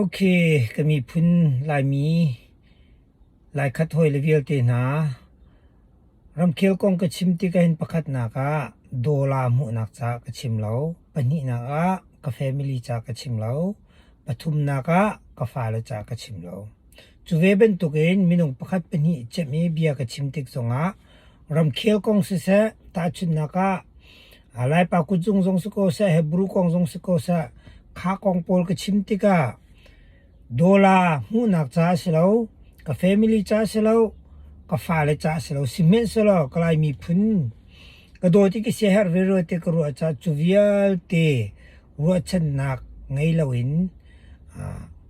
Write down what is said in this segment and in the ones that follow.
Ok, ka miphun Laimi, Laikhat hawi le vialte hna, ramkhel kong ka chim tikah pakhatnak ah dollar hmuhnak ca ka chim lo. Pahnihnak ah ka family ca ka chim lo. Pathumnak ah ka fale ca ka chim lo. Cu ve bantukin minung pakhat pahnih cemh i bia ka chim tik zongah ramkhel kong siseh, tahchunhnak ah Laipa kutzung zong si ko seh, Hebru kong zong si ko seh, kha kong pawl ka chim tikah dollar hmuhnak caah a si lo, ka family caah a si lo, ka fale caah a si lo, sihmanhsehlaw ka Lai miphun Ka dawt i ka siaherh veve te ka ruah caah cu vialte ruahchannak ngei loin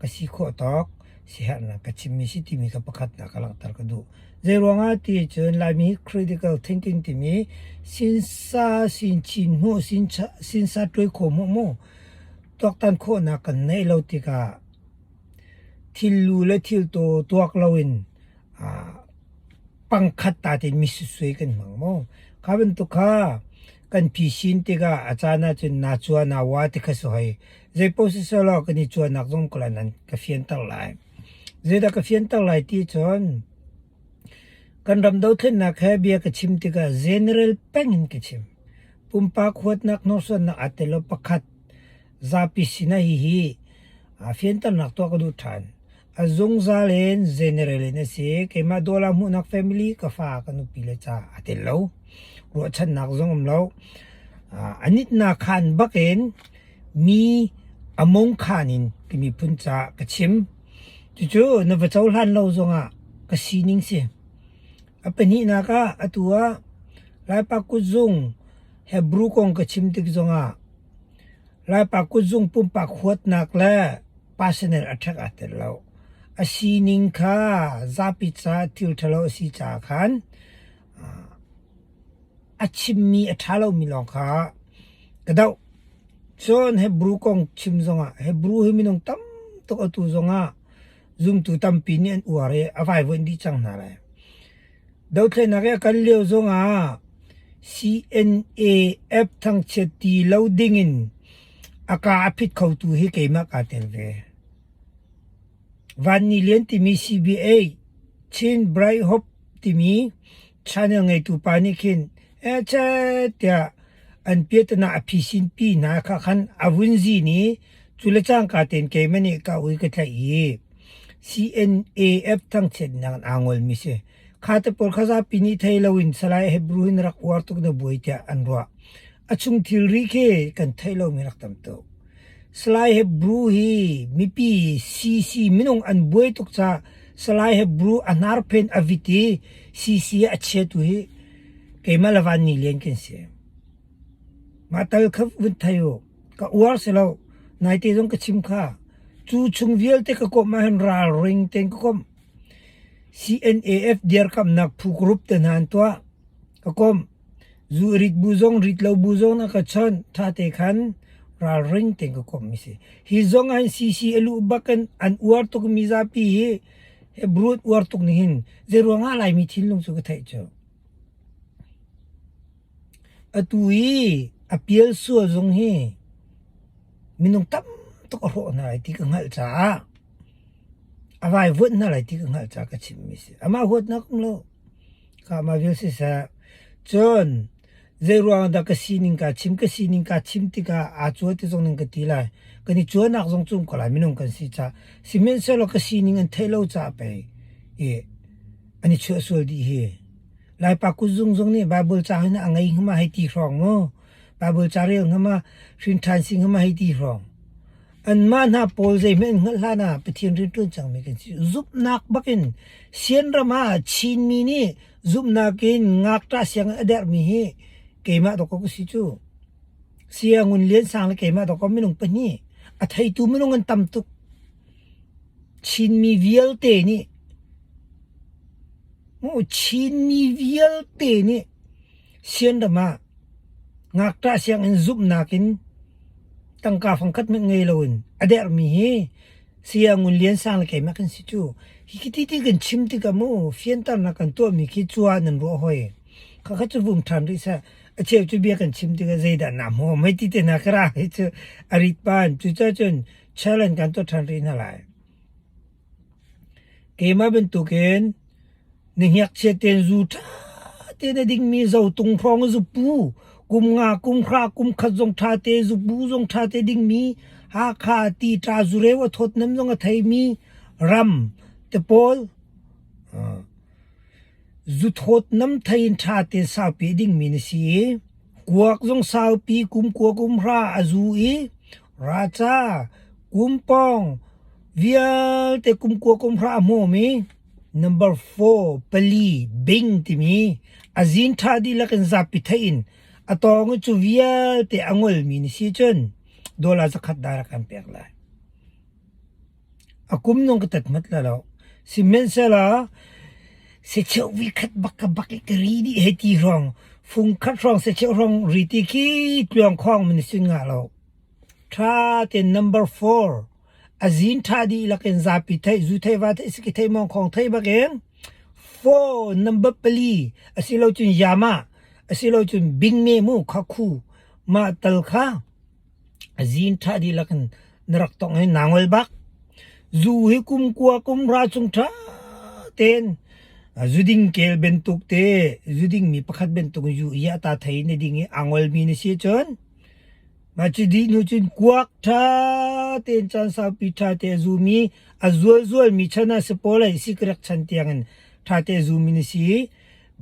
ka si khawh tawk siaherhnak ka chimmi si timi kha pakhatnak ka langhter ka duh. Zeiruangah ti cun Laimi critical thinking timi sinsa, sinchin hmuh, sinsa tuai kho hmuh mu tuaktan khawhnak kan neih lo tikah thil lu le thil taw tuak loin pangkhat tatin misusui kan hmang maw? Kha bantuk kha kan phisin tikah a caan ahcun naa cua naa wa ti kha si hoi. Zeipoh siseh law kan i cuanak zong kula nan ka fianter lai. Zeidah ka fianter lai ti cun kan ram dothlennak he bia ka chim tikah general peng in ka chim. Pumpak huatnak hnursuannak ate lo pakhat zapi sinah hihi aa fianternak tuah ka duh ṭhan. A zungzal in general in a si. Keimah Dawla Hmuhnak Family ka fa ka nupi le ca a tel lo. Ruahchannak zong um lo. Uh, a nitnak khan bakin mi among khan in ka miphun ca ka chim. Cucu na va cohlan lo zongah ka sining si. A pahnihnak ah atu ah Laipa kutzung Hebrew kong ka chim tik zongah Laipa kutzung pumpak huatnak le personal a ṭhek aa tel lo. A sining kha zapi caah thil ṭhalo a si caah khan a chimmi a ṭha lomi lawng kha ka doh. Cun Hebru kong chim zongah Hebru hi minung tam tuk atu zongah zumtu tampi nih an uar i a vaivuanh dih cang hna lai. Dothlennak i a kal lio zongah CNAF thangchiat ti lo dingin a kaa a phit khotu hi keimah kaa tel ve. Vanni Lian timi CBA, Chin Bright Hope timi channel ngeitu pa nih khin "Ece!" tiah an piatana a phisin pi hna khah khan a vun zin i Cu le cangka tein keimah nih ka ui ka tlaih i CNAF thangchiatnak in aa ngolmi si. Kha te pawl kha zapi nih thei loin Salai Hebrew in rak uar tuk na buai tiah an ruah. A chung thilri khi kan theih lomi rak tam tuk. Salai Hebrew hi mipi CC minung an buai tuk caah Salai Hebrew a hnarphen a vit i CC a chiatu hi keimah le van ni len kan si. Mah tal kha vun thei u. ka uar si lo nai te zong ka chim kha cu chung vialte ka kom ahhin ralring ten ka kom CNAF diar kamnak phu group te nan tua ka kom zu rit bu zong rit lo bu zong na ka chon tha te khan ral ring ten ka kom mi si hi zong an CC alu bakan an uar tuk mi za pi hi he brut uar tuk ni hin zeruanga lai mi thin lung chu ka thei cho Atu i a pial sual zong hi minung tam tuk a hrawh hna lai ti ka hngalh caah a vaivuanh hna lai ti ka hngalh caah ka chimmi a si. Amah huatnak um lo, kamah vial siseh cun zeiruangah dah ka sining kaa chim, ka sining kaa chim tikah aa cuan ti zong nan ka ti lai. Kan i cuanak zong cu um ko lai minung kan si caah. Sihmanhsehlaw ka sining an theih lo caah pei i an i chuah sual dih hi. Laipa kut zung zung nih Baibal caang in a ngei ngam ah hei ti hrawng maw? Baibal ca rel ngam ah hrinṭhan si ngam ah hei ti hrawng. Anmah hna pawl zeihmanh an hngalh hlan ah Pathian rianṭuan cangmi kan si. Zumhnak bak in Sian ram ah Chinmi nih zumhnak in ngakṭah sianginn a dermi hi keimah dawkawk a si cu. Sia Ngun Lian Sang le keimah dawkawk minung pahnih a theitu minung an tam tuk. Chinmi vialte nih Chinmi vialte nih sianram ah ngakṭah sianginn zumhnak in tangka fangkhat hmanh ngei loin a dermi hi Saya Ngun Lian Sang le keimah kan si cu. Hi ti ti kan chim tikah mu fianternak kan tuahmi khi cua nan ruah hoi. Khakha cu vum ṭhan rih sah. A cheu cu bia kan chim tikah zeidah naa hmu? Mei ti te na ka ra hi cu a rit pan. Cucacun challenge kan tuah ṭhan rih hna lai. Keimah bantukin na hngekchiat tein zu ṭha tein a dingmi zotung hrawng zupu, kum nga, kum hra, kum khat zong ṭha tein zupu zong ṭha tein dingmi, Hakha tii-ṭa zureu a thawtnam zong a theimi ram te pawl. Zuthawt nam thei in ṭha te saupi dingmi na si i kuak zung saupi kum kua kum hra a zu i raca, kum pawng vialte kum kua kum hra a hmawm i number four pali bing timi a zin ṭha dihlak in zapi theih in a tawng i cu vialte a ngolmi na si cun dolar zakhat dah rak kan pek lai. A kum nung ka tat mat la lo. Sihmanhsehlaw secheu vuikhat bak ka bak i ka ri dih hei ti hrawng, fung khat hrawng secheu hrawng ri ti khi tluang khawng min sin ngah lo. Ṭha ten number four, a zin ṭha dih lakin zapi theih, zu thei va theih, siki thei mong khawng thei bakin four number pali asi lo cun yama, asi lo cun bingme mu kha khu. Mah tal kha Zin ṭha dihlak in na rak tong i naa ngol bak. Zu hi kum kua kum ra chung ṭha tein zuding kel bantuk te, zudingmi pakhat bantuk zu hi a ta thei na ding i aa ngolmi na si cun mah cu dih hnu cun kuak ṭha tein caan saupi ṭha te a zumi a zualzualmi chan ah si pawl ai sikrek chan tiangin ṭha te a zumi na si.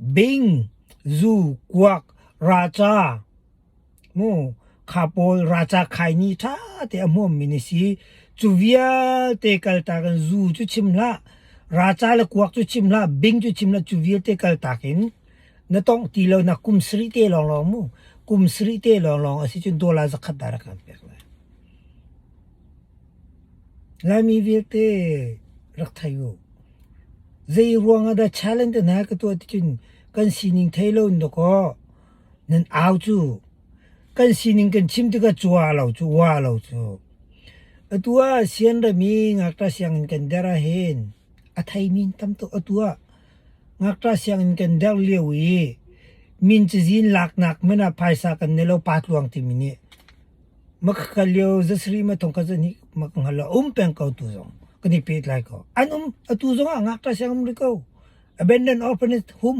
Bing, zu, kuak, raca, Kha pawl ralca khaini ṭha te a hmuammi na si. Cu vialte kaltak in zu cu chim hlah, ralca le kuak cu chim hlah, bing cu chim hlah, cu vialte kaltak in na tongh ti lo na kum sarih te lawnglawng mu. Kum sarih te lawnglawng a si cun dollar zakhat dah rak kan pek lai. Laimi vialte rak thei u. Zei ruangah dah challenge hna ka tuah tikhin kan sining thei lo in dawkaw Nan au cu kan sining kan chim tikah cua lo cu wa lo cu. Atu ah sian ram i ngakṭa sianginn kan der ahhin a theimi tam tuk atu ah ngakṭa sianginn kan der lio i min cazin laknak hmanh ah phaisa kan nei lo pa tluang timi nih maka kal lio zasarih mathong khat zahnih maka hngal lo a um peng ko tu zong kan i pehtlai ko. An um atu zong ah ngakṭa sianginn um rih ko. Abandoned orphanage hum.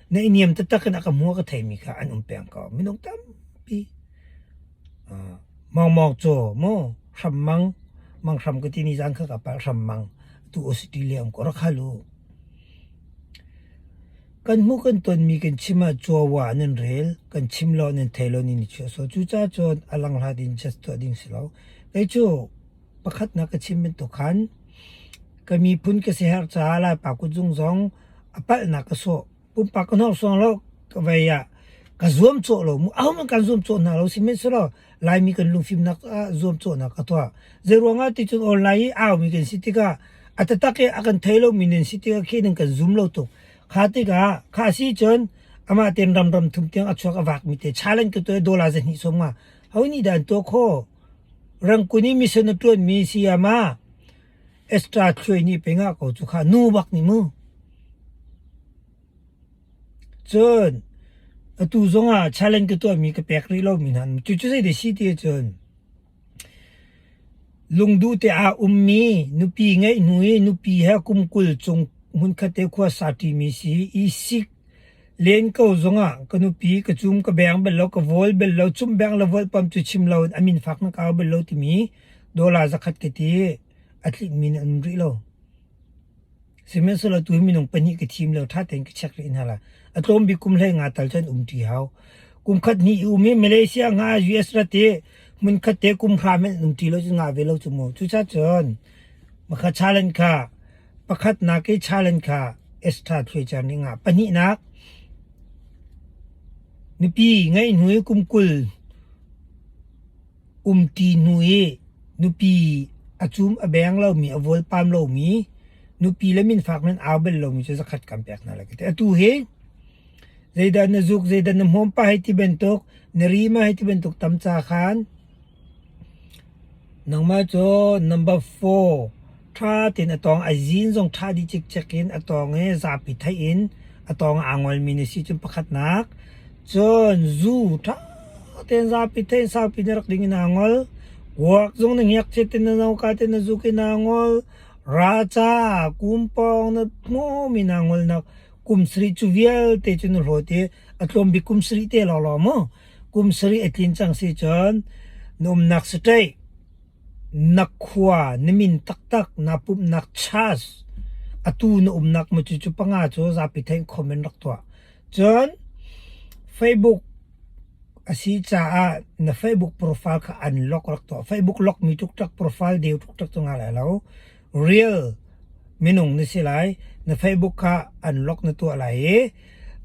Neihniam taktak in a ka hmuh a ka theimi kha an um peng ko. Minung tampi. Uh, mawngmawng cu maw hram mang mang hram ka tini zang kha ka pal hram mang tu ositi liam ko rak halu. Kan mu kan tonmi kan chima chuawa nan rel kan chimlo nan theilo ni ni chu so chu cha chuan alang hla din just to ding silo. Kei chu pakhat na ka chim bantuk khan ka miphun ka siherh caah Laipa kutzung zong a palhnak ka sawh. Pumpak ka hnorsuang lo ka vei ah ka zuam cawh lo mu ahom kan zuam cawh hna lo sihmanhsehlaw Laimi kan lungfimnak ah zuam cawhnak ka tuah. Zei ruangah ti cun online i aumi kan si tikah a tatak i a kan thei lomi nan si tikah khi nan kan zum lo tuk. Kha tikah kha si cun amah ten ramram thum tiang a chuak a vak mi te challenge ka tuah dollar za hnih som nga honi dan to kho Rangkun i misen a ṭuanmi sayama Esther Thluai nih peng ah ko cu kha nu bak nih mu. Cun atu zongah challenge ka tuahmi ka pek rih lomi hna an um. Cucu zei de si ti ahcun lungduh te aa ummi nupi ngeih hnu i nupi he kum kul chung hmunkhat te khua sa ṭimi si i sik Len ko zongah ka nupi ka cum ka beng bal lo ka vawl bal lo cum beng le volhpam cu chim lo in amin fak na kau bal lo timi dollar zakhat ka ti. A tlinmi na um rih lo. Sihmanhsehlaw tu minung pahnih ka thim lo ṭha tein ka check rih hna la. A tlawm bik kum hlei nga tal cun um ṭi hau. Kum khat hnih i um i Malaysia nga US rat i hmun khat te kum hram in um ṭi lo cu nga ve lo cu mu. Cucacun, makha challenge kha Pakhatnak i challenge kha Esther thuicer ning ah pahnihnak nupi ngeih hnu i kum kul umṭi hnu i nupi a cum a beng lomi a vual pam lomi nupi le min fak nan au bel lomi cu zakhat kan pek hna lai ka ti. Atu hi zeidah na zuk zeidah na hmawm pa hei ti bantuk na ri ma hei ti bantuk tamca khan Nangmah cu number four ṭha tein a tawng ai zin zong ṭha dih cikcek in a tawng i zapi theih in a tawng ah aa ngolmi na si. Cun pakhatnak cun zu ṭha tein zapi theih in saupi na rak ding in aa ngol. Kuak zong na ngiakchiat in na noka te na zuk in aa ngol. Ra ca, kum pawng na hmuhmi na ngolnak kum sarih cu vialte cu na hlawt i a tlawm bik kum sarih te lawlaw maw? Kum sarih a tlin cang si cun na umnak siteih na khua na min taktak naa pumhnak church atu na umnak mu cu cu panga cu zapi thein comment rak tuah. Cun Facebook a si caah na Facebook profile kha unlock rak tuah. Facebook lock mi tuk tuk profile deu tuk tuk cu ngai lai lo. Real minung na si lai. Na Facebook kha an lock na tuah lai i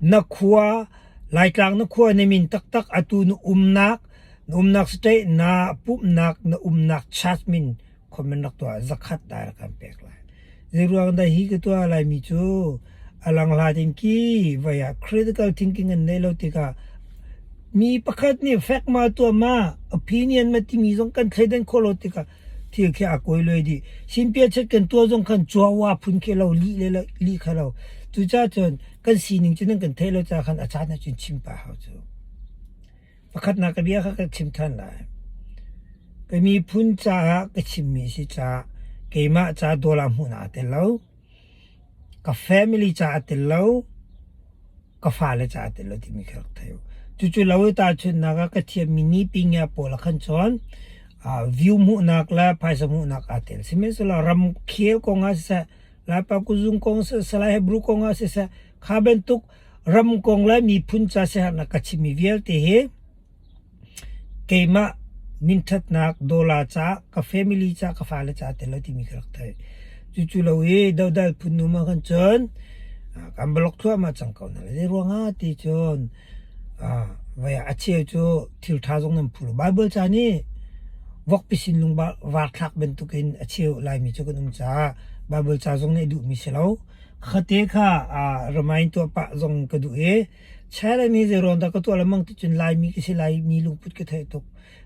na khua Laitlang na khua na min taktak atu na umnak na umnak state na pumhnak na umnak church min comment rak tuah zakhat da rak kan pek lai. Zeiruang dah hi ka tuah lai mi cu alang hla ding ki vaya critical thinking an nei lo tikah mi pakhat nih fact ma tuah ma opinion ma timi zong kan thleidan khawh lo tikah thil khi a kawi loi dih sinpia chet kan tuah zong khan chua wa phun khi lo li le li kha lo cu ca cun kan sining cu nan kan theih lo ca khan a caan ah cun chim pa hau cu pakhatnak ka bia kha ka chim than lai ka miphun caah ka chimmi si ca keimah ca dawla hmuh naa tel lo Ka family caah a tel lo, ka fale caah a tel lo timi kha rak theih u. Cucu lo i tahchunhnak ah ka thiammi nipi ngia pawl ah khan cun ah view hmuhnak le phaisa hmuhnak aa tel. Sihmanhsehlaw ramkhel kong ah siseh, Laipa kuzung kong siseh, Lai Hebrew kong ah siseh, kha bantuk ram kong le miphun ca siaherhnak ka chimmi vialte hi Keimah minṭhatnak dollar ca, ka family ca, ka fale ca tel lo timi ka rak theih. Cucu lo i dodal phun dum ahkhan cun kan va lok thluahmah cang ko hna le. Zeiruangah ti cun voi ah a cheu cu thilṭha zong nan phul. Bible ca nih vokpi sinlung varthlak bantukin a cheu Laimi cu kan um caah Bible ca zong nih a duhmi si lo. Khate kha remind tuah pah zong ka duh i China nih zeiruang dah ka tuah lengmang ti cun Laimi ka si Laimi lungput ka theih tuk.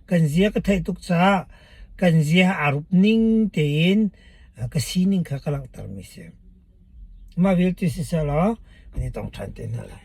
Kan zia ka theih tuk caah kan zia aa rup ning tein ka sining kha ka langhtermi si. Mah vialte siseh law kan i tong ṭhan te hna lai.